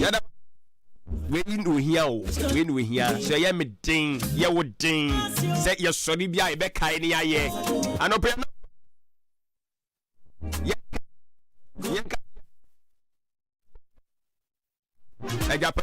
yɛda wei na ohia o wei na ohia sɛ ɛyɛ me den yɛ wo den sɛ yɛsɔre bi a yɛbɛkae ne yɛayɛ anɔpɛ no yɛnka agyapa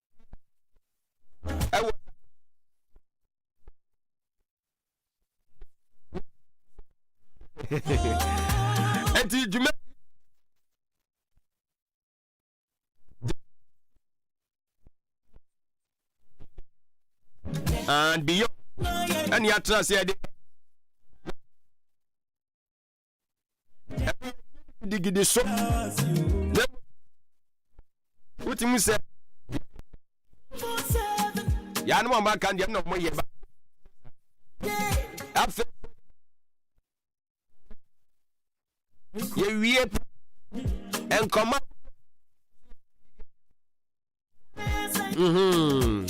ɛwɔ ɛti dwuma and beyond ɛne atena sɛ ɛde gidigidi so na wotumi sɛ yɛa no ma ɔma ka deɛ na ɔmɔ yɛ ba afei yɛwie nkɔma Mm-hmm.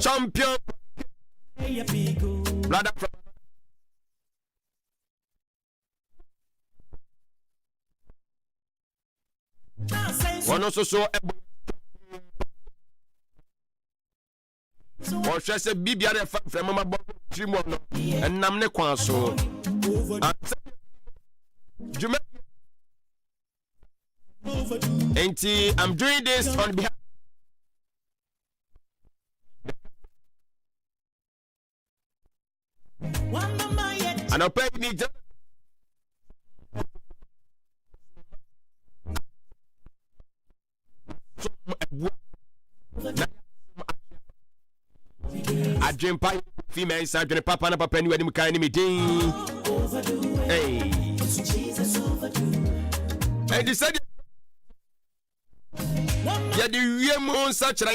Champion. Brother from wɔn nso so ɛbɔ wɔhwɛ sɛ biribiara ɛfa mfrɛmamabɔ tiri mu no ɛnam ne kwan so ansɛ dwuma nti i'm doing this on behalf anɔpa yi ni gya adwempa fi mɛ nsa adwene papa na papa ni wanim kan ne me din ɛnti sɛdeɛ yɛde wie mu nsakyerɛ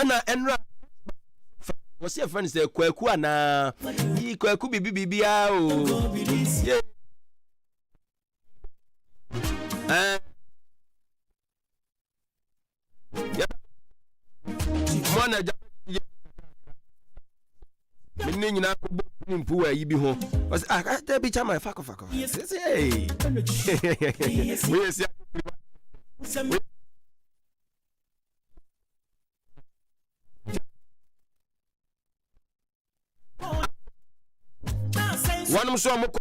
ɛna ɛnra wɔ sɛ yɛfrɛ no sɛ kwaku anaa yi kwaku biribi biribiaa o yeah. uh, yeah. me ne nyina kɔbɔ pini mpu wɔ ayi bi ho ɔsɛ ah, ah dabi chama fa kɔfa kɔfa sɛ woyɛ sia wɔnom so ɔmokɔ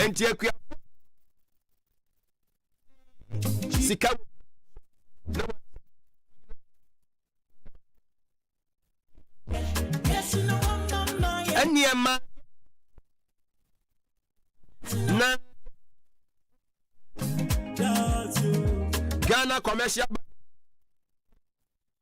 nti akua sika nneɛma na ghana commercial bank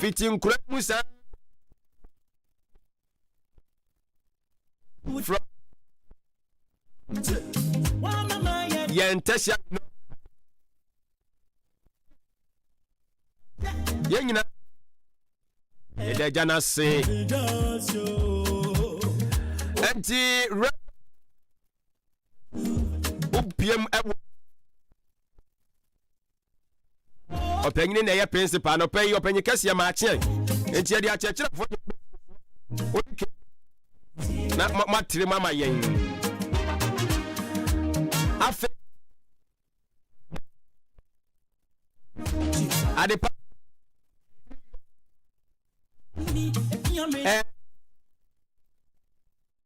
fiti nkura mu saa frɔ yɛn ntɛhyɛ no yɛn nyinaa yɛda agya no ase ɛnti rɛ wopiam ɛwɔ ɔpanyin na ɛyɛ principal na ɔpanyin ɔpanyin kɛseɛ maa kyeɛ nti yɛde akyerɛkyerɛfoɔ de ɔde na moatere mu ama yɛn afei adepa ɛɛ.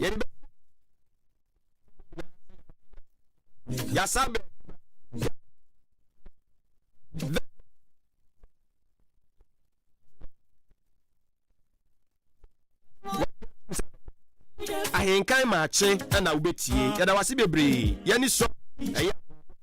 yɛde bɛ yasa bɛ ahenkan maakye na wobɛtie yɛda wase bebree yɛne sɔ ɛyɛ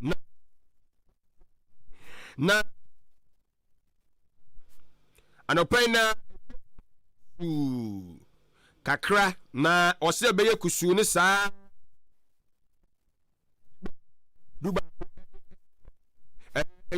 na na anɔpa yi na kusuu kakra na ɔsɛ ɛbɛyɛ kusuu ne saa duba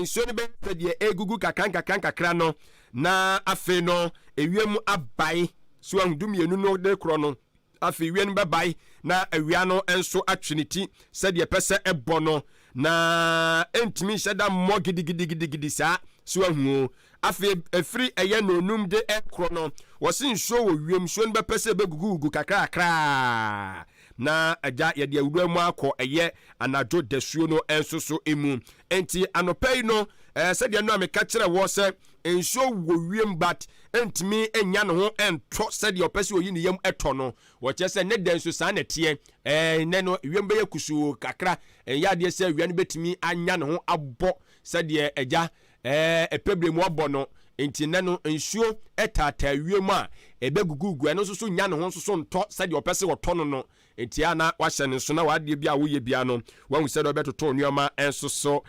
nsuo no bɛyɛ sɛ deɛ ɛgugu kakra nkakra nkakra no na afei no ewiem abae so ahu du mmienu no de korɔ no Afei wia no bɛbae na awia no nso atwe ne ti sɛdeɛ ɛpɛ sɛ ɛbɔ no, na ɛntumi nhyɛ da mmɔ gidigidigidigidi saa, so wahu o? Afei ɛfiri ɛyɛ nnɔnnum de rekorɔ no, wɔse nsuo wɔ wiem, nsuo no bɛpɛ sɛ ɛbɛgugugugu kakrakra na agya yɛde awura mu akɔ ɛyɛ anadwo dasuo no nso so mu. Enti anɔpa yi no, sɛdeɛ no a meka kyerɛ wɔ sɛ Nsuo wɔ wiem but ɛntumi nnya ne ho ntɔ sɛdeɛ ɔpɛ sɛ ɔyi ne yam tɔ no. Wɔkyerɛ sɛ ne dɛ nso saa na ɛteɛ. Ɛɛ nnɛ no wiem bɛyɛ kusuu kakra, ɛnyɛ adeɛ sɛ awia no bɛtumi anya ne ho abɔ sɛdeɛ agya ɛɛ ɛpɛ berɛ mu ɔbɔ no. Nti nnɛ no nsuo taataa wiem a ɛbɛgugugu, ɛno nso so nnya ne ho nso so ntɔ sɛdeɛ ɔpɛ sɛ ɔtɔ no no. Enti a na woahyɛ no nso na w'adeɛ biara a woyɛ biara no, woahu sɛdeɛ wobɛtoto nneɛma nso so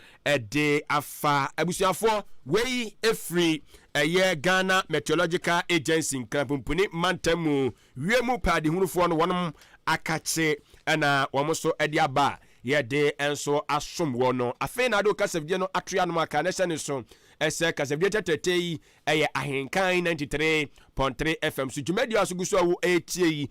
de afa. Abusuafoɔ, wei firi ɛyɛ Ghana Meteorological Agency, Nkrapumpuni mantam mu wiem pɛadehunufoɔ no, wɔnom akakye na wɔn nso de aba a yɛde nso asom wɔ no. Afei na ade wo kasafidie no ato yɛ anom aka na hyɛ no so sɛ kasafidie tɛtɛtɛ yi yɛ Ahenkan 93.3 FM so dwumadie a so gu so a wo ɛretie yi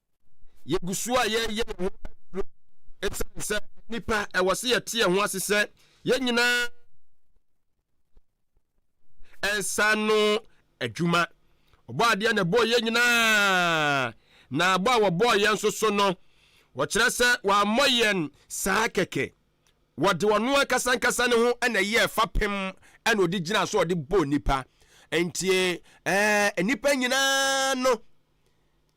yɛgu so a yɛreyɛ yɛn ho aduro ɛsiane sɛ nnipa ɛwɔ sɛ yɛte yɛn ho ase sɛ yɛn nyinaa ɛnsa no adwuma ɔbɔ adeɛ na ɛbɔɔ yɛn nyinaa na abɔ a wɔbɔɔ yɛn nso so no wɔkyerɛ sɛ wɔammɔ yɛn saa kɛkɛ wɔde ɔno ankasa ankasa ne ho na ɛyɛ ɛfa pem ɛna ɔde gyina so ɔde bɔ nnipa nti ɛɛ nnipa nyinaa no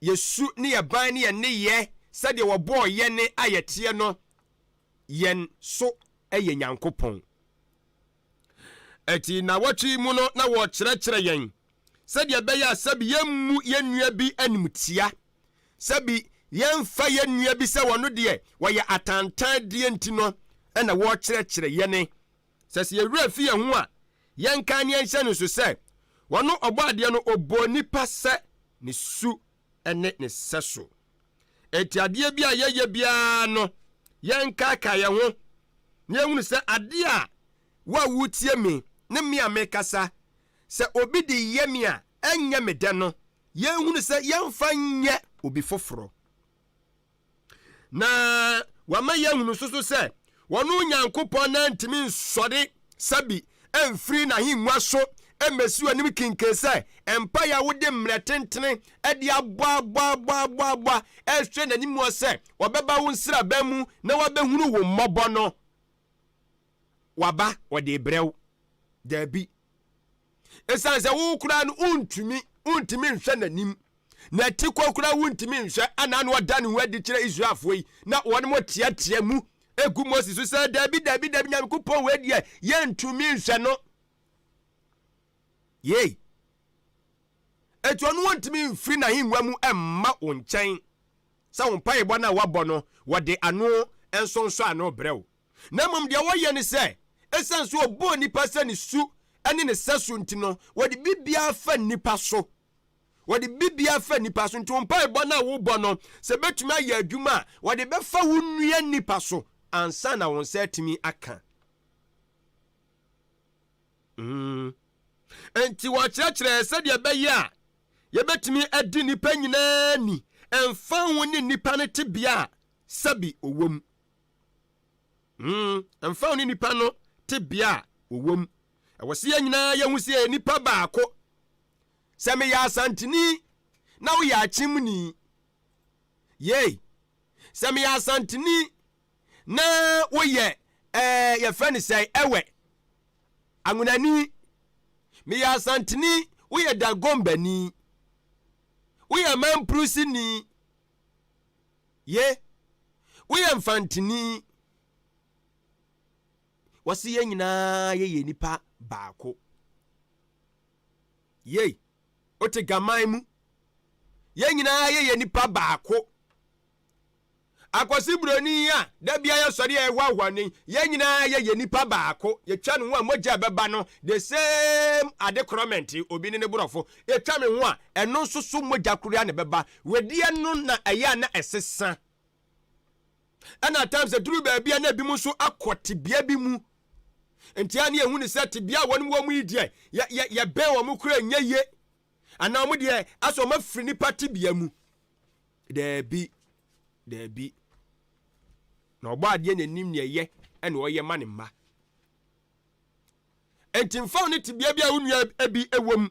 yɛ su ne yɛ ban ne yɛ nneyɛɛ sɛdeɛ wɔbɔɔ yɛne a yɛteɛ no yɛn so yɛ Nyankopɔn. Ɛti nnawɔtwe yi mu no na wɔrekyerɛkyerɛ yɛn sɛdeɛ ɛbɛyɛ a sɛbi yɛmmu yɛn nua bi animtia, sɛbi yɛmfa yɛn nua bi sɛ wɔno deɛ wɔyɛ atantan deɛ nti no na wɔrekyerɛkyerɛ yɛne Sɛ sɛ yɛn werɛ fi yɛn ho a, yɛnkae ne yɛnhyɛ no nso sɛ, ɔno Ɔbɔadeɛ no, ɔbɔɔ nnipa sɛ ne su ne ne sɛso. Enti adeɛ bi a yɛyɛ biara no, yɛnkaakae yɛn ho na yɛnhunu sɛ adeɛ a wo a woretie me ne me a merekasa, sɛ obi de yɛ me a, ɛnyɛ me dɛ no, yɛnhunu sɛ yɛmfa nyɛ obi foforɔ. Na wama yɛahunu nso so sɛ wɔne Onyankopɔn nan ntumi nsɔre sɛbi mfiri n'ahengua so mmɛsi w'anim kinken sɛ mpaeɛ a wode mmerɛ tentene de aboaboaboaboaboa ɛrehwɛ n'anim hɔ sɛ ɔbɛba wo nsraban mu na wabɛhunu wo mmɔbɔ no. waba wɔde rebrɛ wo. Daabi. Esiane sɛ wo koraa no wontumi, wontumi nhwɛ n'anim. N'atikɔ koraa wontumi nhwɛ a na na ɔda ne ho adi kyerɛ Israelfoɔ yi na wɔn teatea mu egu Mose so sɛ daabi daabi daabi Nyankopɔn wei deɛ yɛntumi nhwɛ no. Yei. Eti ɔno wɔntumi mfiri n'ahengua mu mma wo nkyɛn sɛ wo mpaebɔ no a wɔabɔ no wɔde ano nsonsɔ ano brɛ wo. na mmom deɛ wɔyɛ ne sɛ, ɛsiane sɛ ɔbɔɔ nnipa sɛ ne su ne ne sɛso nti no, wɔde biribiara fa nnipa so. Wɔde biribiara fa nnipa so. Nti wo mpaebɔ no a wobɔ no, sɛ ɛbɛtumi ayɛ adwuma a, wɔde bɛfa wo nua nnipa so ansa na wo nsa atumi aka. Mm. Nti wɔkyerɛkyerɛɛ sɛdeɛ ɛbɛyɛ a yɛbɛtumi adi nnipa nyinaa ni, ɛmfa ho ne nnipa no tebea a sɛbi ɔwɔ mu. Hmm, ɛmfa ho ne nnipa no tebea a wɔwɔ mu, ɛwɔ sɛ yɛn nyinaa yɛ hu sɛ yɛyɛ nnipa baako. Sɛ meyɛ Asanteni na woyɛ Akyemni, yei, sɛ meyɛ Asanteni na woyɛ ɛɛ yɛfrɛ no sɛ ɛwɛ, Anwonani, meyɛ Asanteni, woyɛ Dagombani, woyɛ Mamprusini, Ye, woyɛ mfantini. Wɔse yɛn nyinaa yɛyɛ nipa baako. Yei, wote gaman mu. Yɛn nyinaa yɛyɛ nipa baako. Akwasi buroni a da bia yɛsɔre a ɛhoahoa no yi, yɛn nyinaa yɛyɛ nipa baako. Yɛtwa ne ho a mogya a ɛbɛba no, the same ade korɔmɛnte, obi ne ne borɔfo. Ɛtwa me ho a, ɛno nso so mogya koro ara na ɛbɛba. Wedeɛ no na ɛyɛ a na ɛsesa. Ɛna at times ɛduru baabi a na ebinom nso akɔ tebea bi mu. Nti a na yɛhu no sɛ tebea a wɔn wɔ mu yi deɛ yɛ yɛ yɛbɛn wɔn koraa nyɛ yie. Anaa wɔn deɛ asɛ wɔn afiri nipa tebea mu. Daabi, daabi. Na ɔbɔ adeɛ na enim nea ɛyɛ ɛna ɔyɛ ma ne mma. Nti nfa wo ne tebea bi a wo nua bi wɔ mu.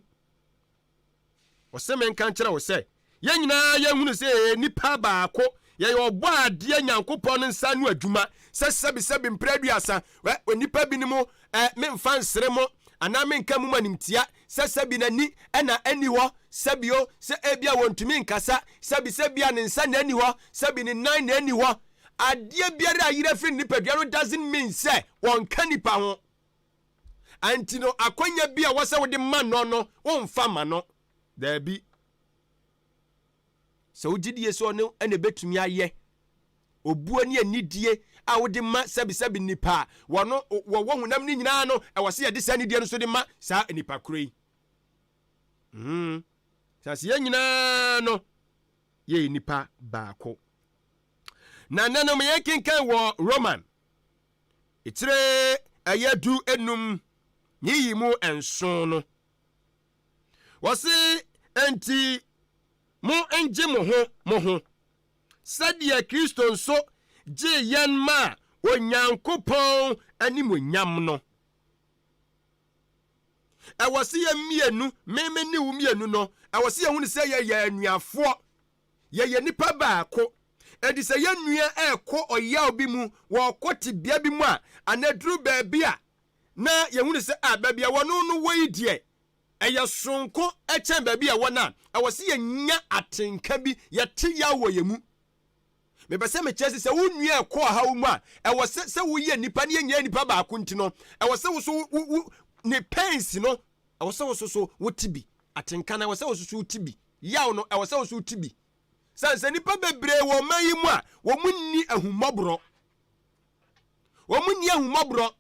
Ɔse menka nkyerɛ wo sɛ, yɛn nyinaa yɛhunu sɛ yɛyɛ nnipa baako, yɛyɛ ɔbɔadeɛ Nyankopɔn no nsa ano adwuma, sɛ sɛbisɛbi mprɛ aduasa, wɛ, onipa binom, ɛ, memfa nsere mo, anaa menka mum animtia, sɛ sɛbi n'ani na ɛnni hɔ, sɛbio, sɛ ebia wɔntumi nkasa, sɛbi sɛ bia ne nsa na ɛnni hɔ, sɛbi ne nan na ɛnni hɔ, adeɛ biara a ayera firi ne nipadua no doesn't mean sɛ wɔnka nipa ho. Anti no akwanya bi a wɔsɛ wode ma no no womfa ma no daabi sɛ wogye die sɛ ɔno ɛna ɛbɛtumi ayɛ obuo ne anidie a wode ma sɛbisɛbi nnipa a wɔno wɔwɔ honam no nyinaa no ɛwɔ sɛ yɛde saa anidie no so de ma saa nnipa korɔ yi mm. sɛ sɛ yɛn nyinaa no yɛyɛ nnipa baako na nanom yɛkenkan wɔ roman Etire ɛyɛ du enum ne yi mu nson no, wɔse, Enti mo ngye mo ho mo ho, sɛdeɛ Kristo nso gyee yɛn maa Onyankopɔn animuonyam no. Ɛwɔ se yɛn mmienu, me me ne wo mmienu no, ɛwɔ se yɛhunu sɛ yɛyɛ anuafoɔ. Yɛyɛ nnipa baako. Enti sɛ yɛn nua rekɔ ɔyaw bi mu, ɔrekɔ tebea bi mu a, anaa aduru baabi a, na yɛhu no sɛ, ah, baabi a ɛwɔ no no, wɔ yi deɛ, ɛyɛ soronko kyɛn baabi a ɛwɔ no a, ɛwɔ sɛ yɛnya atenka bi, yɛte yaw wɔ yɛn mu. Mepɛ sɛ mekyerɛ sɛ, sɛ wo nua rekɔ ɔhaw mu a, ɛwɔ sɛ, sɛ woyɛ nnipa na yɛn nyinaa yɛ nnipa baako nti no, ɛwɔ sɛ wo so wo, wo, ne pains no, ɛwɔ sɛ wo so so wote bi. Atenka no, ɛwɔ sɛ wo so so wote bi. yaw no, ɛwɔ sɛ wo nso wote bi. Sane sɛ nnipa bebree wɔ ɔman yi mu a wɔn nni ahummɔborɔ. Wɔn nni ahummɔborɔ.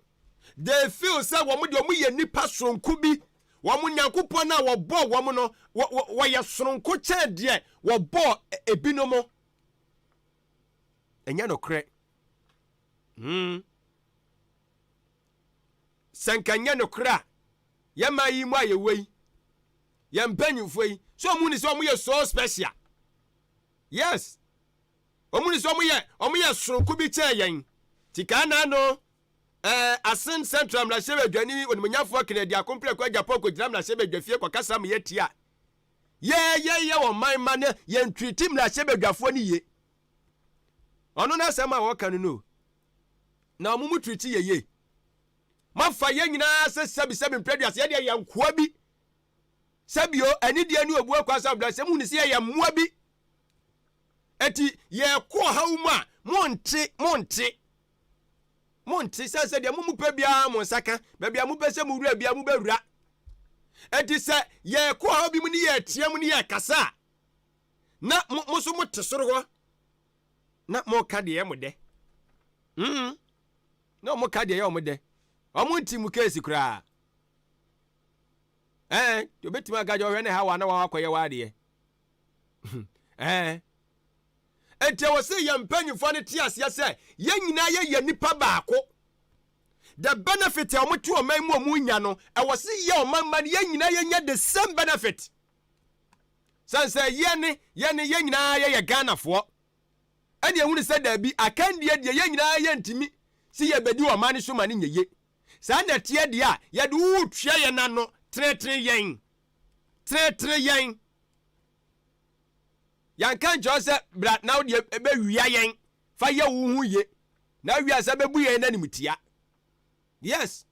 They feel sɛ wɔn deɛ wɔn yɛ nnipa soronko bi. Wɔn Nyankopɔn a wɔbɔɔ wɔn no, wɔyɛ soronko kyɛn deɛ wɔbɔɔ e, ebinom. Ɛnyɛ nokorɛ. Hmm. Sɛ nka nyɛ nokorɛ a, yɛn man yi mu ayɛ wei. Yɛn mpanyinfoɔ yi, sɛ wɔn ni sɛ wɔn yɛ so special. Yes, wɔn ni sɛ wɔn yɛ wɔn yɛ soronko bi kyɛn yɛn. Ti kaa naa no, ɛɛ eh, Asen Central mmarahyɛbadwani onimonyafo Kennedy Akompreko Agyapong kɔgyina mmarahyɛbadwafie kɔkasa ma yɛn ti a yɛyɛyɛ wɔn man ma no yɛn twiriti mmarahyɛbadwafoɔ no yie. Ɔno n'asɛm a wɔka no no na wɔn mu twiriti yɛ yie. Mafa yɛn nyinaa sɛ sɛbisɛbi mpɛduasa yɛdeɛ yɛn nkoa bi Sɛ bio, anidie ne obu akwa sɛ ɔbrasɛm hu ne sɛ yɛyɛ mmoa bi. Eti yɛkɔ ɔhaw mu a, monte, monte. Monte, sɛ sɛ deɛ mo mopɛ biara mo nsa ka, baabi a mopɛ sɛ mowura biara mobɛwura. Eti sɛ yɛkɔ ɔhaw bi mu ne yɛteɛ mu ne yɛkasa a, na mo, mo so mote soro hɔ na moka deɛ ɛyɛ mo dɛ. Mm, na wɔka deɛ ɛyɛ wɔn dɛ. Wɔn nti mu keesi koraa. ɛn nti obɛtumi aka kyɛ ɔhwɛ ne hawa na wawakɔyɛ w'adeɛ ɛn nti ɛwɔ sɛ yɛn mpanyinfoɔ no te aseɛ sɛ yɛn nyinaa yɛ yɛ nipa baako the benefit a wɔte ɔman mu wɔn nya no ɛwɔ sɛ yɛ ɔman ma no yɛn nyinaa yɛnya the same benefit sɛn sɛ yɛne yɛne yɛn nyinaa yɛyɛ ghanafoɔ ɛne ɛhunu sɛ daabi akandeɛ deɛ yɛn nyinaa yɛntumi sɛ yɛbɛdi ɔman no so ma no nyɛ ye Saa na ɛteɛ deɛ a yɛde wo retua yɛn ano, tenetene yɛn, tenetene yɛn. Yɛnka nkyerɛ wo sɛ bra na wodeɛ bɛwia yɛn, fa yɛ wo ho ye, na awia sɛ bɛbu yɛn animtia. Yes.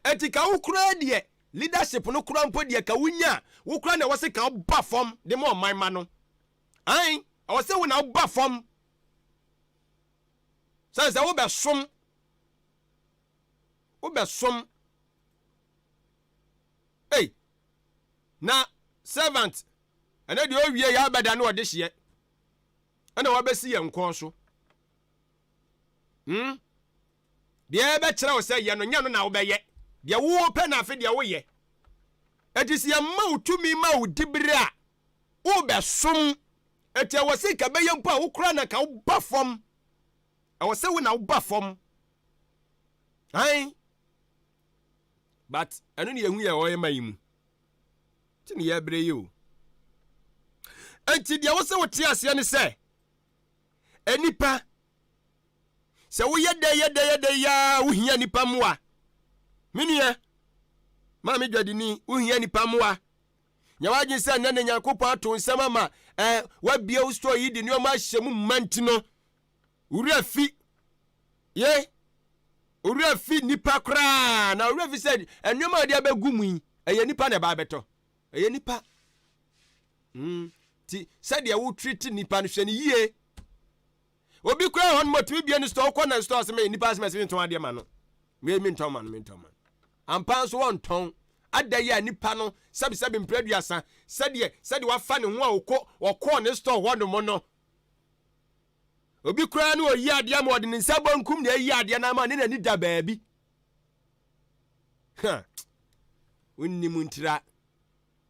Ɛti ka wo koraa deɛ leadership no koraa mpo deɛ ka wonya a, wo koraa na ɛwɔ sɛ ka woba fam de ma ɔman ma no. Ae, ɛwɔ sɛ wo na woba fam. Sɛ sɛ wobɛsom wobɛsom ei na servant ɛnɛ deɛ ɔwie yɛ abɛda ne ɔde hyeɛ ɛna wabɛsi yɛn nkɔn so hmm? deɛ ɛbɛkyerɛ wo sɛ yɛ no nyɛ no na wobɛyɛ deɛ wopɛ na afe deɛ woyɛ ɛti sɛ yɛma wo tumi ma wo dibere a worebɛsom. Enti ɛwɔ sɛ nka ɛbɛyɛ mpo a wo koraa na nka woba fam. Ɛwɔ sɛ wo na woba fam. Ae. But ɛno ne yɛhu yɛ ɔyɛ ma yi mu. Nti ne yɛbrɛ yi o. Enti deɛ wɔ sɛ wote aseɛ ne sɛ, nnipa, sɛ woyɛ dɛ yɛ dɛ yɛ dɛ yaa wohia nnipa mmoa. Me nua, maame dwadini, wohia nnipa mmoa. Nyɛ w'adwene sɛ nnɛ na Nyankopɔn ato nsɛm ama ɛ, wabie wo store yi de nneɛma ahyɛ mu mma nti no, wo werɛ fi ye, wo werɛ fi nipa koraa, na wo werɛ fi sɛ nneɛma a wɔde abɛgu mu yi, ɛyɛ nipa na ɛba abɛtɔ. Ɛyɛ nipa. Mm. Ti sɛdeɛ wo treat nipa no hwɛ no yie. Obi koraa hɔ no ma ɔtumi bie no store, wokɔ na store ase ma yɛ nipa ase ma ɛsɛ ntɔn adeɛ ma no. Wei mentɔn ma no, mentɔn ma no. Ampa ara nso wɔntɔn. Ada yi a nipa no sɛbesɛbe mpira aduasa sɛdeɛ sɛdeɛ wafa ne ho a ɔkɔ ɔkɔɔ ne store hɔ nom no. Obi koraa no ɔyi adeɛ ama ɔde ne nsa bonkum na ayi adeɛ no ama ne n'ani da baabi. Ha! Wonnim ntira.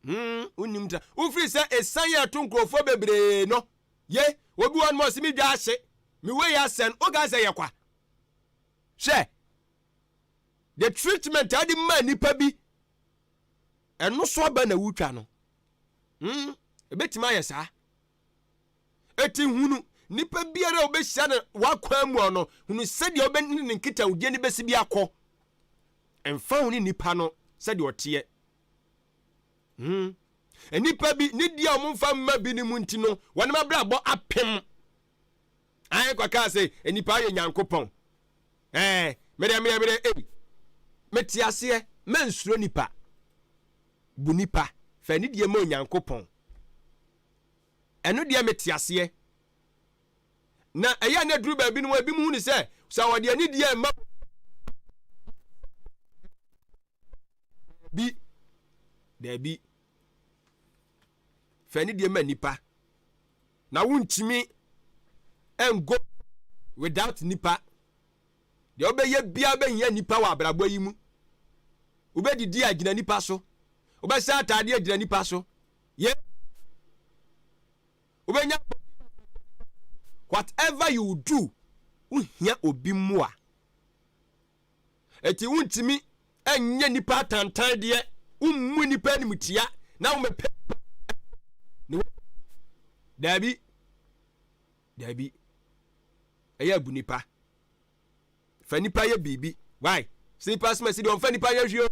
Hmm, wonnim ntira. Wofiri sɛ ɛsan yɛ ɛto nkurɔfoɔ bebree no. Ye, obi wɔ no ma ɔse me dwa ahye, me wei asɛn, woka sɛ yɛ kwa. Hwɛ, the treatment a wode maa nipa bi, ɛno so aba na wotwa no. Hmm, ebetumi ayɛ saa. Eti hunu nipa biara a obehyia no w'akwan mu no, hunu sɛdeɛ ɔbɛ ne ne nkitawodie no bɛsi bi akɔ. Mfa ho ne nipa no sɛdeɛ ɔteɛ. Hmm. Nipa bi ne di a wɔmfa mma bi no mu nti no, wɔn abrabɔ apem. Ae kwa kaa se nnipa ayɛ Nyankopɔn eh medeɛ medeɛ medeɛ ei mete aseɛ mansuro nipa bu nipa fa anidie ma Onyankopɔn ɛno deɛ mete aseɛ na ɛyɛ na duru baabi no ebi mu hunu sɛ sɛ wɔde anidie mma bi daabi fa anidie ma nipa Na wontumi ngo without nnipa. Deɛ wobɛyɛ biara wobɛhia nnipa wɔ abrabɔ yi mu. Wobɛdidi a gyina nnipa so. Wobɛsɛ ataadeɛ a gyina nnipa so. Yɛ wobɛnya whatever you do wohia obi mmoa. Enti wontumi nyɛ nnipa atantan deɛ, wommu nnipa animtia na womɛpɛ daabi daabi ɛyɛ abu nipa fa nipa yɛ biribi why slippers mɛsi deɛ ɔmfa nipa yɛ hwio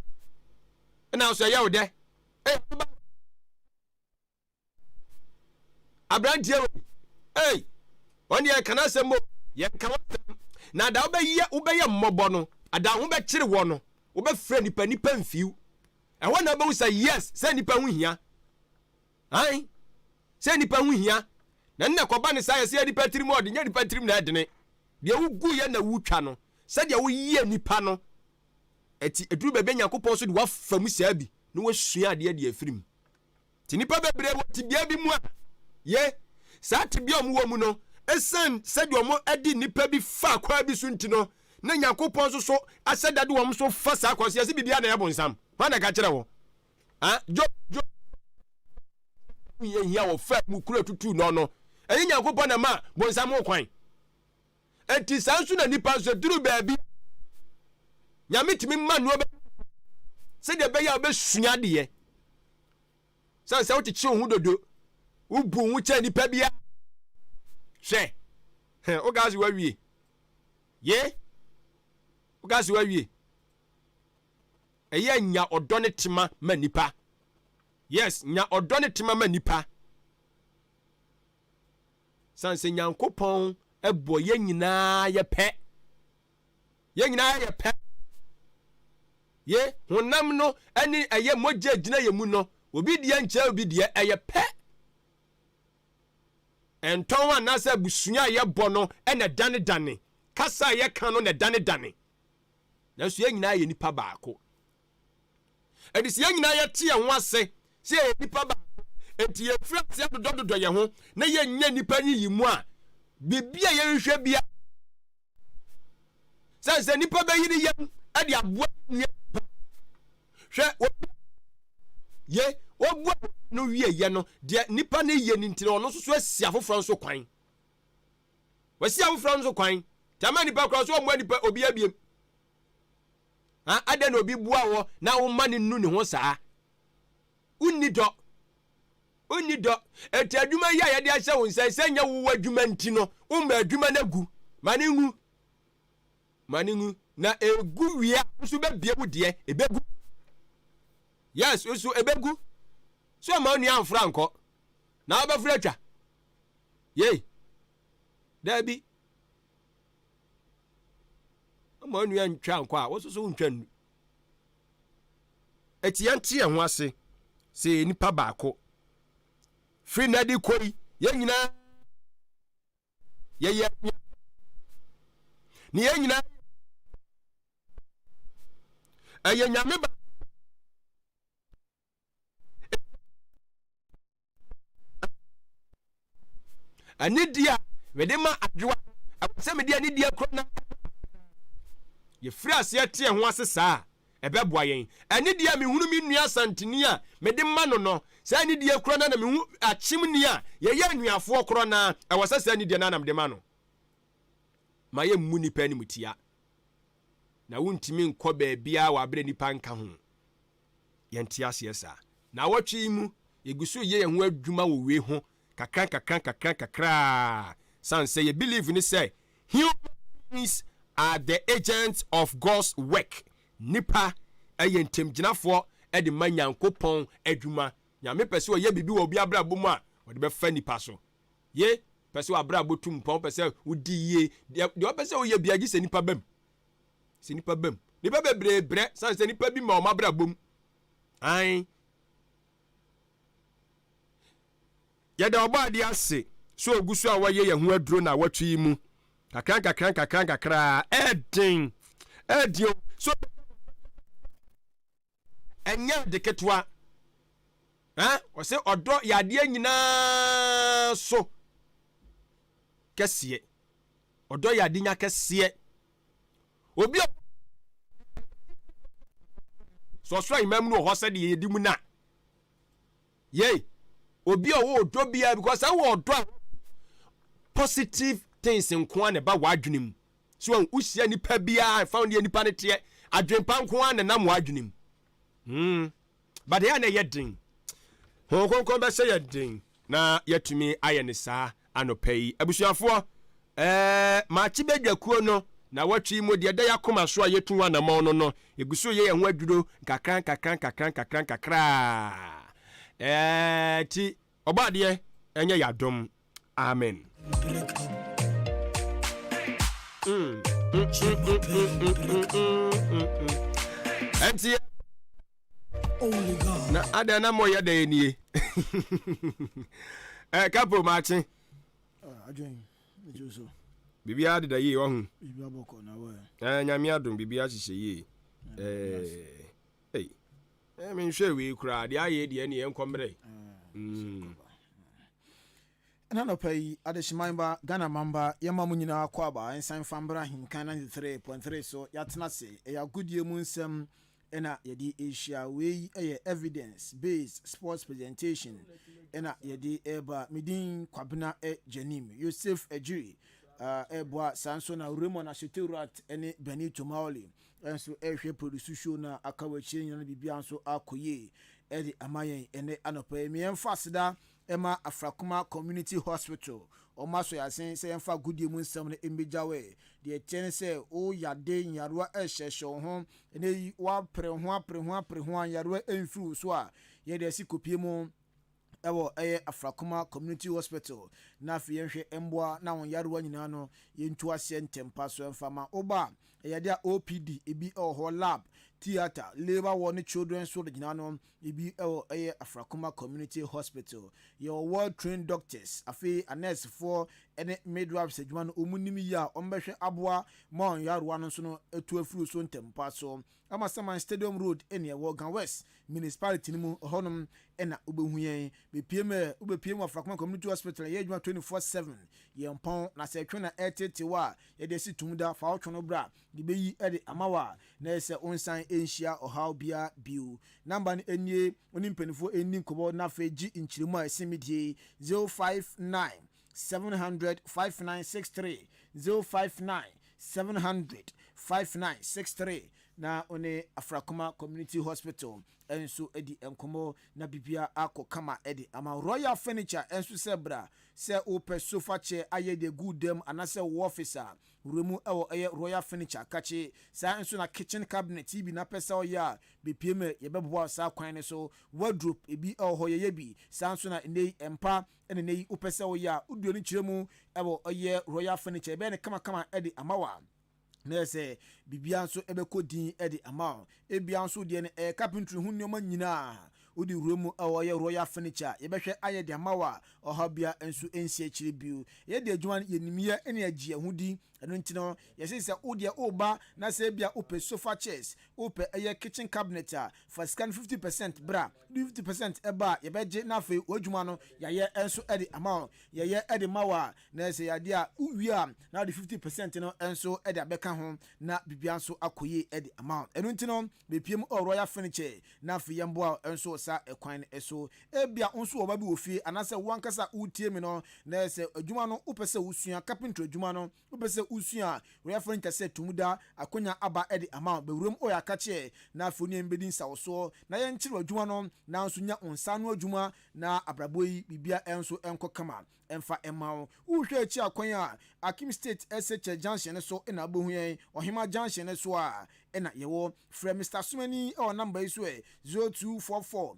ɛna so ɛyɛ wo dɛ aberanteɛ wei ei ɔne yɛka no asɛm o yɛnka wasɛm na da wobɛyɛ wobɛyɛ mmɔbɔ no ada ho bɛkyere wɔ no wobɛfrɛ nipa nipa mfiw ɛhɔ na wobɛhu sɛ yes sɛ nipa ho hia an sɛ nipa ho hia na nna kɔba ne saa yɛsɛ nipa tirim ɔde nyɛ nipa tirim na ɛdene deɛ wogu yɛ na wotwa no sɛdeɛ woyɛ nipa no ɛti ɛduru baabi a nyankopɔn so de wafa mu saa bi na wasua adeɛ de afiri mu Nti nnipa bebree wɔ tebea bi mu a, ye, saa tebea a wɔwɔ mu no, esiane sɛdeɛ wɔde nnipa bi fa kwan bi so nti no, na Nyankopɔn nso so ahyɛ da de wɔn nso fa saa kwan so. Yɛse biribiara na ɛyɛ bonsam. Hwan na ɛka kyerɛ wo? Ah, Job, Job, hiahia wɔfaa mu kura tutuu no no. Ɛnyɛ Nyankopɔn na ɛma bonsam ho kwan. Enti saa nso na nnipa nso duru baabi Nyame tumi ma nneɛma sɛdeɛ ɛbɛyɛ a wobɛsua adeɛ. Sane sɛ wokyekye wo ho dodo, wobu wo ho kyɛ nnipa bi a hwɛ woka se wawie ye woka se wawie ɛyɛ nya ɔdɔ ne tema ma nipa yes nya ɔdɔ ne tema ma nipa Sane sɛ Nyankopɔn bɔ yɛn nyinaa yɛ pɛ. Yɛn nyinaa yɛ pɛ. Ye honam no ne ɛyɛ mogya gyina yɛn mu no, obi deɛ nkyɛ obi deɛ ɛyɛ pɛ. Ɛntɔn anaasɛ abusua a yɛbɔ no na ɛdanedane, kasa a yɛka no na ɛdanedane. Nanso yɛn nyinaa yɛ nipa baako. Ɛde sɛ yɛn nyinaa yɛte yɛn ho ase sɛ yɛyɛ nnipa baako, enti yɛfiri ase adodɔdodɔ yɛn ho na yɛnyɛ nnipa nyiyimu a biribi a yɛhwehwɛ biara sɛ sɛ nnipa bɛyere yɛn de aboa nua nipa. Hwɛ obi ye obu a no wie yɛ no deɛ nipa no yɛ no nti na ɔno nso so asi afoforɔ nso kwan. Wasi afoforɔ nso kwan. Tama nipa koraa so ɔmmoa nipa obi abiem. Ha? Adɛn na obi boa wɔ na woma no nu ne ho saa? Wonni dɔ. Wonni dɔ. Eti adwuma yi a yɛde ahyɛ wo nsa sɛ nyɛ wo adwuma nti no, womma adwuma no agu. Ma no ngu. Ma no ngu. Na egu wie a, nso bɛbie wo deɛ. Ebegu. Yes, nso ebegu. So ɔma onua amfra nkɔ. Na wobɛfra atwa. Yei. Daabi. Mma onua ntwa nkɔ a wososo wontwa nnu. Eti yɛnte yɛn ho ase sɛ yɛ nipa baako. Firi na de kɔ yi, yɛn nyinaa yɛyɛ nua. Ne yɛn nyinaa ɛyɛ nyame ba ɛne di a mede ma adwoa ɛwɔ sɛ mede ɛne di akura na yɛfiri aseɛ teɛ ho ase saa a ɛbɛboa yɛn ɛne di a mehunu me nua santini a mede ma no no sɛ ɛne di akura na na mehu akyem ni a yɛyɛ anuafoɔ korɔ na ɛwɔ sɛ sɛ ɛne di na na mede ma no ma yɛ mmu nipa anim tia na wontumi nkɔ baabiara wɔ aberɛ nipa nka ho Yɛnte aseɛ saa. Naawɔtwe yi mu, yɛgu so reyɛ yɛn ho adwuma wɔ wei ho kakrankakrankakrankakra ara sane sɛ yɛ believe ne sɛ human beings are the agents of God's work. Nnipa yɛ ntamgyinafoɔ de ma Nyankopɔn adwuma. Nyame pɛ sɛ ɔyɛ biribi wɔ obi abrabɔ mu a, ɔde bɛfa nnipa so. Ye pɛ sɛ w'abrabɔ tu mpɔn, wopɛ sɛ wodi yie, deɛ ɔpɛ sɛ woyɛ biara gye sɛ nnipa ba mu. Sɛ nnipa bam. Nnipa bebree brɛ sane sɛ nnipa bi ma wɔn abrabɔ mu. Ae. Yɛda ɔbɔ adeɛ ase sɛ ogu so a wɔyɛ yɛn ho aduro na awɔtwe yi mu. Kakra nkakra nkakra nkakra ɛɛden. Ɛɛden o. So ɛnyɛ ade ketewa. Ɛn, wɔse ɔdɔ yɛ adeɛ nyinaa so kɛseɛ. Ɔdɔ yɛ adenya kɛseɛ. Obi a sɛ ɔsoro ahemman mu no wɔ hɔ sɛdeɛ yɛdi mu no a, yei obi a ɔwɔ ɔdɔ biara because sɛ wɔ ɔdɔ a positive things nko a na ɛba w'adwene mu So wahu? Wohyia nnipa biara, ɛmfa ho deɛ nnipa no teɛ, adwempa nko ara na nam wɔn adwene mu. Hmm. But ɛyɛ a na ɛyɛ den. Honhom Kronkron bɛhyɛ yɛ den na yɛatumi ayɛ ne saa anɔpa yi. Abusuafoɔ, ɛɛ makye badwakuo no na wɔtwe yi mu deɛ ɛda yɛakoma so a yɛtu ho anamɔn no no, yɛgu so yɛ yɛn ho adwuro nkakra nkakra nkakra nkakra nkakra. Ɛɛ ti Ɔbɔadeɛ ɛnyɛ yadom amen. Ɛnti na adɛn na moyɛ dɛn nie eh, kapo maakye ah, biribiara deda yie wahu eh, nyame adom biribiara hyehyɛ yie eh. Ei eh me nhwɛ wei koraa deɛ ayɛ deɛ ɛne yɛnkɔ mmerɛ. Mm. Ɛna nɔpa yi, adehyeman ba, Ghana man ba, yɛma mo nyinaa kɔ aba nsa mfa mbra Ahenkan 93.3 so, yɛatena ase, ɛyɛ agodie mu nsɛm ɛna yɛde rehyia, wei ɛyɛ evidence based sports presentation ɛna yɛde ɛreba, me din Kwabena Gyanim, Yosef Agyiri ɛreboa, saa nso na Raymond Ashete-Ruat ɛne Benny Tomaoli nso rehwɛ produce show no a aka wɔ akyire nyinaa na biribiara nso akɔ yie de ama yɛn ɛnɛ anɔpa yi. Me yɛmfa aseda ɛma Afrakoma Community Hospital, wɔn asɔ yɛn asen sɛ yɛmfa agodie mu nsɛm no mmɛgya wo. Deɛ ɛteɛ ne sɛ wo yade nyarewa rehyɛhyɛ wo ho, ɛnɛ yi woapere ho apere ho apere ho a nyarewa mfiri wo so a, yɛde asi kopie mu. ɛwɔ ɛyɛ Afrakoma Community Hospital na afei yɛnhwɛ mboa na wɔn yarewa nyinaa no yɛntu aseɛ ntɛmpa so ɛmfa mma wo ba a ɛyɛde a OPD ebi ɛwɔ hɔ lab, theatre, labour ward ne children's ward nyinaa no ebi ɛwɔ ɛyɛ Afrakoma Community Hospital yɛwɔ well trained doctors afei anɛɛsefoɔ ɛne midwives adwuma no wɔn nim yie a wɔn bɛhwɛ aboa ma wɔn yarewa no nso no atu afiri wo so ntɛmpa so. Amasaman Stadium Road ne ɛwɔ Ga West Municipality no mu hɔnom na wobɛhu yɛn. Bɛpue mu ɛ, wobɛpue mu Afrakwama Community Hospital a ɛyɛ adwuma 24 seven. Yɛmpɔn, na sɛ ɛtwe na ɛreteetee wo a, yɛde asi tom da, fa wo twono bra, yɛbɛyi de ama wo a na ɛyɛ sɛ wonsan nhyia ɔhaw biara bio. Namba no nie, wo ne mpaninfoɔ nni nkɔmmɔ na afei gye nkyerɛmu a ɛsen me die yi, 059 seven hundred five nine six three zero five nine seven hundred five nine six three na ɔne afrakoma community hospital nso di nkɔmɔ na bibia akɔ kama de ama royal furniture nso sɛ bra sɛ wopɛ sofa chair ayɛ de gu dam anasɛ wɔ office a wura mu ɛwɔ ɛyɛ royal furniture kakye saa nso na kitchen cabinet tv na pɛ sɛ ɔyɛ a bepie mu yɛbɛboa saa kwan no so wardrobe ebi ɛwɔ hɔ yɛyɛ bi saa nso na nnei mpa ɛna nnɛ yi wopɛ sɛ woyɛ a, woduɛ no kyerɛ mu wɔ ɔyɛ royal furniture, yɛbɛyɛ no kamakama de ama wo a, na yɛ sɛ biribiara nso bɛkɔ din de ama wo. Ebia nso wodeɛ no ɛyɛ carpentry ho nneɛma nyinaa, wode wura mu wɔ ɔyɛ royal furniture a, yɛbɛhwɛ ayɛ de ama wo a, ɔhaw biara nso nsi akyire bio. Yɛde adwuma no, yɛnim yɛ na yɛgye yɛn ho di, ɛno nti no, yɛse sɛ wodeɛ woreba na sɛ ebia wopɛ sofa chairs, wopɛ ɛyɛ kitchen cabinet a, fa sika no fifty percent bra de fifty percent ɛba a yɛbɛgye na afei w'adwuma no yɛayɛ nso de ama wo yɛyɛ de ma wo a na ɛsɛ yɛade a wowie a na wode fifty percent no nso de abɛka ho na biribiara nso akɔ yie de ama wo ɛno nti no bepie mu ɔwɔ royal furniture na afei yɛmboa wo nso wɔ saa ɛkwan no ɛso ebia wo nso wɔ ba bi wɔ fie anaasɛ wo ankasa wotie mi no na ɛsɛ adwuma no wopɛ sɛ wosua carpentry adwuma no Wopɛ sɛ wusua a, Ɔyɛfo no nkɛse a tumi da akonya aba de ama wo. Bewuram ɔyɛ akakyeɛ na afei wo ne yɛn bɛdi nsawosoɔ na yɛnkyere w'adwuma no nanso nya wo nsa ano adwuma na abrabɔ yi biribiara nso nkɔ kama mfa mma wo. Wohwɛ akyi a kwan a Akim State SHS junction no so na wobɛhu yɛn, Ɔhema junction no so ara na yɛwɔ. Frɛ Mister Asomani wɔ number yi so ɛ, 0244.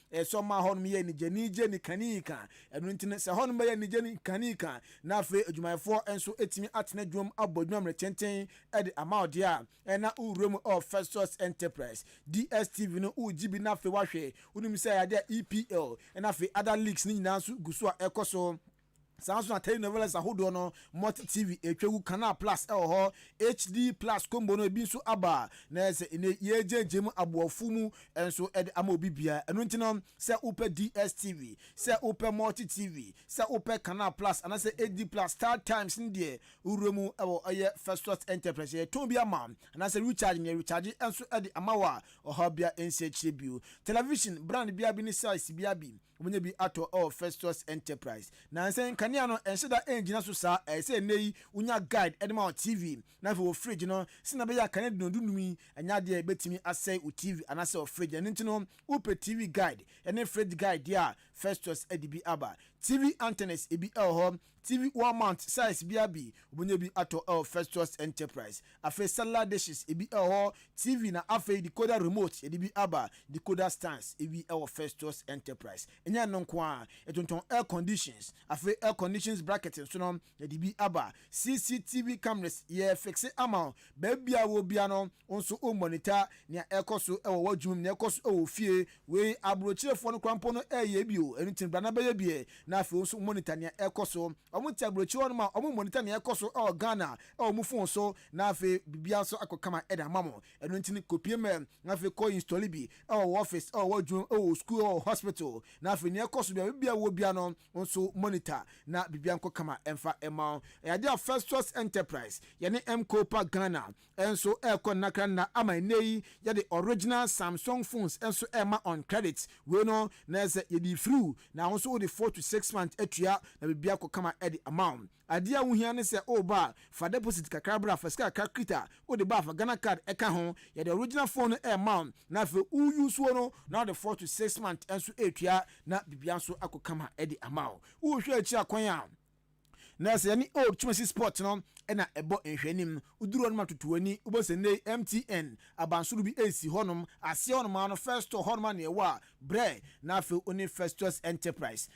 Ɛsɛ sɛ ɔma hɔnom yɛ anigyaniigye ne kaniika. Ɛno nti no, sɛ hɔnom bɛyɛ anigye ne kaniika, na afei adwumayɛfoɔ nso atumi atena adwumam abɔ adwuma mmere tenten de ama wo deɛ a, ɛnna wo wura mu wɔ Festus Enterprise. DSTV no, wogye bi na afei woahwɛ. Wonim sɛ ɛyɛ adeɛ a EPL, ɛnna afei other leagues no nyinaa nso gu so a ɛkɔ so. Saa ara nso na telenovelas ahodoɔ no, Multi TV ɛtwa gu, Canal Plus ɛwɔ hɔ, HD Plus combo no ɛbi nso aba na ɛyɛ sɛ ɛnɛ yɛregyaagyaa mu aboɔfo mu nso ɛde ama obi biara. Ɛno nti no sɛ wopɛ DSTV, sɛ wopɛ Multi TV, sɛ wopɛ Canal Plus anaasɛ HD Plus, Star Times no deɛ wowura mu wɔ ɛyɛ First Source Enterprise. Yɛtɔn bi ama anaasɛ recharge no yɛrecharge nso ɛde ama wo a ɔhaw biara nsi akyire bio. Television brand biara bi ne size biara bi Wɔbɛnya bi atɔ wɔ Festus Enterprise. Nansa yi, nkanea no nhyɛ da ngyina so saa. Ɛyɛ sɛ nnɛ yi wonya guide de ma wo TV, na afei wo fridge no, sɛnea ɛbɛyɛ a kanea dunnɔn dunnum yi nyɛ adeɛ a ɛbɛtumi asɛe wo TV anaasɛ wo fridge. Ɛno nti no, wopɛ TV guide ne fridge guide deɛ a, Festus de bi aba. TV antennas, ebi wɔ hɔ TV wall mount size bia bi wobenya bi atɔ ɛwɔ first choice enterprise afei cellular dishes ebi ɛwɔ hɔ TV na afei decoder remote yɛde bi aba decoder stands ebi ɛwɔ first choice enterprise ɛnyɛ ɛno nko ara yɛtontɔn air conditions afei air conditions bracket nso no yɛde bi aba CCTV cameras yɛ fixe ama wo Baabi a wɔ biara no, wo nso wommɔ no ta. Nea ɛkɔ so wɔ w'adwuma mu, nea ɛkɔ so wɔ wo fie, wei aburokyerefoɔ no koraa mpo no reyɛ bi o, ɛno nti no bra na bɛyɛ bi ɛ. Na afei wo nso monitor nea ɛkɔ so. Wɔte aburokyire hɔnom a, wɔn monitor nea ɛkɔ so wɔ Ghana wɔ wɔn phone so, na afei biribiara nso akɔ kama de ama mo. Ɛno nti no kɔpie ma yɛn, na afei kɔ install bi wɔ w'office, wɔ w'adwuma mu, wɔ wo sukuu, wɔ wo hospital. Na afei nea ɛkɔ so biara, baabi a wɔ biara no, Wo nso monitor na biribiara nkɔ kama ɛmfa mma wo. Ɛyɛ adeɛ a Festus Enterprise, yɛne Mkopa Ghana nso ɛrekɔ nnakra nna ama ɛnnɛ yi yɛde original Samsung phones nso rema on credit. Wei no na ɛsɛ yɛde firi wo na wo nso wode four to six months atua na biribiara akɔ kama de ama wo. Adeɛ a wohia ne sɛ woba a, fa deposit kakra bra, fa sika kakra kita, wode ba a fa Ghana card ka ho, yɛde original phone no rema wo na afei wo use'o no na wode four to six months nso retua na biribiara nso akɔ kama de ama wo. Wohwɛ akyiri a kwan a na sɛ yɛne old Kumasi spot no na ɛbɔ nhwɛanim, woduru hɔ no ma toto w'ani, wobɛhu sɛ nnɛ yi MTN abansoro bi resi hɔnom, aseɛ hɔnom ara no First Store hɔnom ara na ɛwɔ a, brɛ na afei wo ne Festus Enterprise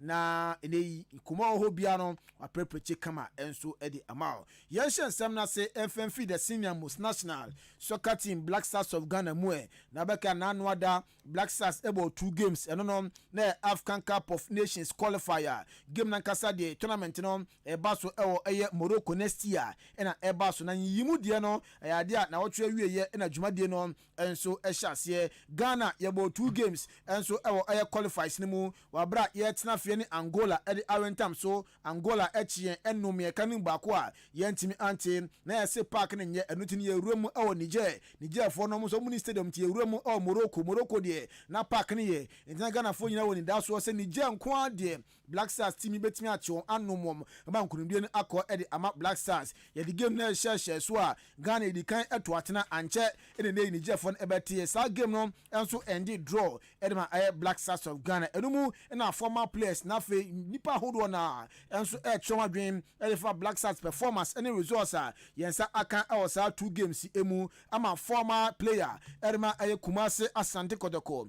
Na ɛnɛ yi, nkɔmmɔ a ɛwɔ hɔ biara no, wɔaprɛprɛkye kama nso de ama wo. Yɛnhyɛ nsɛm no ase mfa mfiri the senior most national soccer team Black Stars of Ghana mu ɛ. Na wobɛka na ano ada Black Stars bɔɔ two games, ɛno no na ɛyɛ Afcan Cup of Nations qualifier game no ankasa deɛ tournament no ɛreba so wɔ ɛyɛ Morocco next year na ɛba so. Na nyiyimu deɛ no ɛyɛ adeɛ a na wɔtwerɛ awieɛ na dwumadie no nso hyɛ aseɛ. Ghana yɛbɔɔ two games nso wɔ ɛyɛ qualifies no mu wɔ aberɛ a yɛretena afie ne Angola de awentam so. Angola kye yɛn nnum mmiɛka no mu baako a yɛantumi ante. Na yɛse park no nyɛ ɛno nti no yɛwura mu wɔ Niger. Nigerfoɔ no wɔn nso wɔnni stadium nti yɛwura mu wɔ Morocco. Morocco deɛ na park no yɛ nti na Ghanafoɔ nyinaa wɔ anidasoɔ sɛ Niger nko ara deɛ Black Stars team yi betumi akye wɔn anom wɔn ba nkonimdie no akɔ de ama Black Stars. Yɛde game no rehyɛhyɛ so a, Ghana di kan to atena, ankyɛ na ɛnɛ yi Nigerfoɔ no bɛteɛ. Saa game no nso ɛnde draw de ma ɛyɛ Black Stars of Ghana. Ɛno mu na former players na afei nnipa ahodoɔ no ara nso rekyerɛ wɔn adwene de fa Black Stars performance ne results a yɛn nsa aka wɔ saa two games yi mu ama former player de ma ɛyɛ Kumasi Asante Kotoko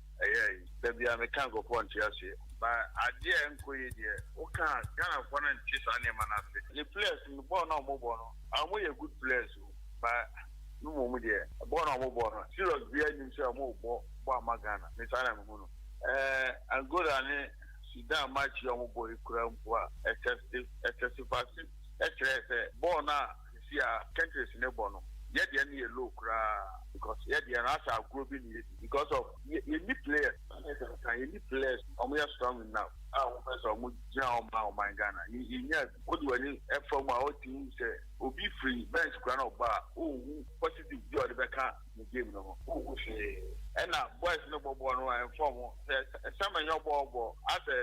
Ɛyɛ ayi. Da biara me ka nkorɔfoɔ nte aseɛ. But adeɛ a ɛnkɔ yie deɛ wo ka a Ghana foɔ no nte saa nneɛma no ase. Ne players no bɔɔl no a wɔbɔ no wɔn yɛ good players o but me mmom deɛ bɔɔl no a wɔbɔ no serious biara nnim sɛ wɔn rebɔ bɔ ama Ghana me saa na me hu no. Ɛɛ Angola ne Sudan match yi a wɔbɔ yi koraa mpo a ɛtɛstifase kyerɛɛ sɛ bɔɔl no a. Sisi a curtains ne bɔ no yɛ deɛ no yɛ low koraa because yɛ deɛ no asɛ agorɔ bi na yɛdi because of yɛ yɛnni players ɛne sɛ nka yɛnni players wɔn yɛ strong enough a wɔn pɛ sɛ wɔn gyina hɔ ma ɔman Ghana yɛ yɛnyaa bi wode w'ani ɛfa mu a ɔte hu sɛ obi firi bench koraa na ɔba a ɔnhu positive bi a ɔde bɛka ne game no ho ɔnhu hwee ɛna boys no bɔ bɔɔl no ɛmfa wɔn sɛ ɛsɛ manyɔ bɔɔl bɔ asɛ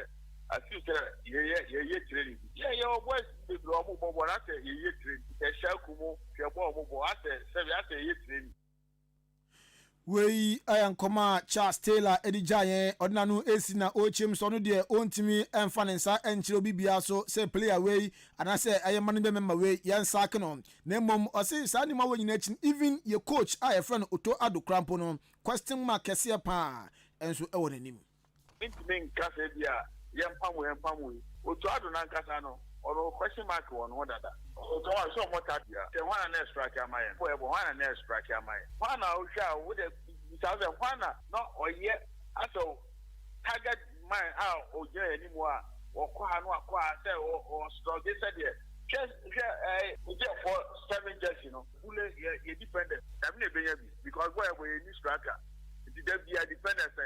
Asi sɛ yɛyɛ yɛyɛ training bi. Yɛ yɛ wɔ boys bi bebree ɔmo bɔ bɔɔl asɛ yɛyɛ training. Yɛ hyɛ aku mo hwɛ bɔɔl ɔmo bɔ asɛ sɛbi asɛ yɛyɛ training. Wei yɛ nkɔmɔ a Charles Taylor ɛde gyaa yɛn. Ɔde n'ano resi na ɔrekyem sɛ ɔno deɛ ɔntumi mfa ne nsa nkyerɛ obi biara so sɛ player wei anaasɛ ɛyɛ management member wei yɛn sack no. Na mmom ɔse saa nneɛma wei nyinaa akyi no even yɛ coach a yɛfrɛ no Otto Addo koraa mpo no question mark kɛseɛ paa nso ɛwɔ n'anim. Mentumi nka sɛ ebia yɛmpam wo yɛmpam wo yi. Otuaa do no ankasa no, ɔwɔ question mark wɔ no ho dada. Ɔtɔn a, sɛ ɔmmɔ tax a, sɛ hwan na na ɛstrake ama yɛn? Bɔ yɛbɔ, hwan na na ɛstrake ama yɛn? Hwan na wohwɛ a wode bisa wo sɛ, hwan na na ɔyɛ asɛw target man a ogyina yɛn anim a ɔkɔ ha na wakɔ ha sɛ ɔstrɔge sɛdeɛ, hwɛ, hwɛ ɛɛ, Ogyefo seven jersey no, Bule yɛ yɛ dependence dame na ebenya bi because bɔɔl yɛbɔ yɛnni striker nti da biaa dependence ɛ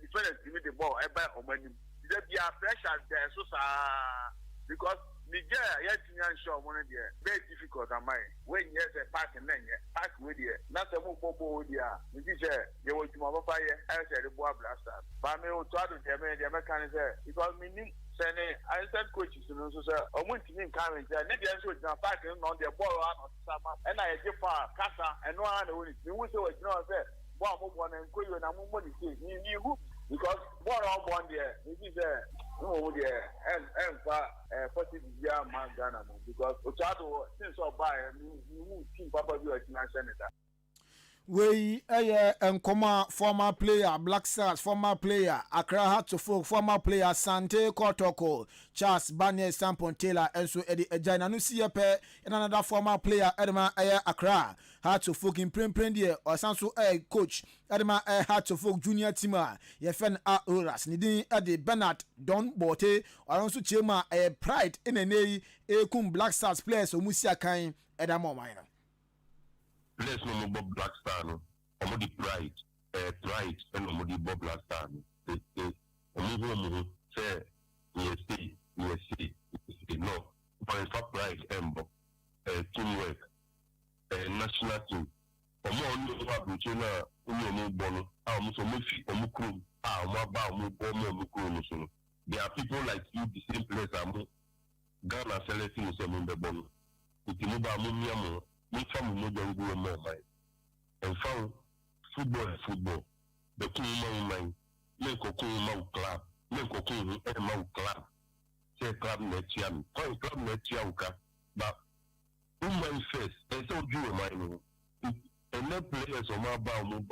dependence tumi de bɔɔl ɛba ɔmo anim nti da biaa pressure da yɛ so saa because Niger a yɛantumi anhyɛ ɔmo no deɛ bɛyɛ difficult ama yɛn. Wei nyɛ sɛ park no na ɛnyɛ park wei deɛ na sɛ mo bɔ bɔɔl wei deɛ a megye sɛ. yɛwɔ adwuma papa yɛ ayɛ sɛ yɛde boa Black Stars but me o Toado deɛ me deɛ mɛka ne sɛ because me nim sɛ ne assistant coaches no nso sɛ ɔmo ntumi nka me nkyɛn ne deɛ nso ɔgyina park no na ɔno deɛ bɔɔl ara na ɔsesa ma ɛna yɛgye foul kasa ɛno ara na ɛwɔ ne ti mehu sɛ wagyina hɔ sɛ bɔɔl a mobɔ no nkɔ yie na mommɔ ne sei me me hu bi because bɔɔl a ɔbɔ no deɛ me fi sɛ mmom deɛ ɛn ɛnfa ɛɛ positive biara mma Ghana mu because Otaado since ɔbaeɛ me me hu team papa bi a ɔtumi ahyɛ ne da. Wei yɛ nkɔmmɔ a former player Black Stars, former player Accra Hearts of Oak, former player Asante Kotoko, Charles Barney Acheampong Taylor nso de agyae. Na no si yɛ pɛ na no da former player de ma ɛyɛ Accra Hearts of Oak. Mprempren deɛ ɔsan nso yɛ coach de ma ɛyɛ Hearts of Oak junior team a yɛfrɛ no Auroras. Ne din de Bernard Don Borte. Ɔno nso kyerɛ mu a ɛyɛ pride na ɛnɛ yi ɛrekum Black Stars players a wɔsi akan da ma ɔman no. Players no ɔmo bɔ black star no ɔmo de pride ɛɛ pride ɛna ɔmo de bɔ black star no sese ɔmo hu ɔmo ho sɛ yɛ sei yɛ sei yɛ sei no ɔmo nfa pride ɛmbɔ ɛɛ team work ɛɛ national team ɔmo a ɔne ɔmo aburokyire no a ɔne ɔmo bɔ no a ɔmo sɛ ɔmo fi ɔmo kurom a ɔmo aba a ɔmo bɔ ɔmo ɔmo kurom no so no there are people like you the same players a mo. Ghana asɛlɛte mu sɛ mombɛbɔ no nti mo baa momia mo ho momfa mo mogya ngu hɔ mma ɔman ɛmfa ho football yɛ football bɛko ho ma wo man menkɔko ho ma wo club menkɔko ho ɛmma wo club sɛ club na atua me fine club na atua wo ka ba wo man first ɛnsɛ wodwene ɔman no ho nti ɛnɛ players ɔmo aba a ɔmo bɔ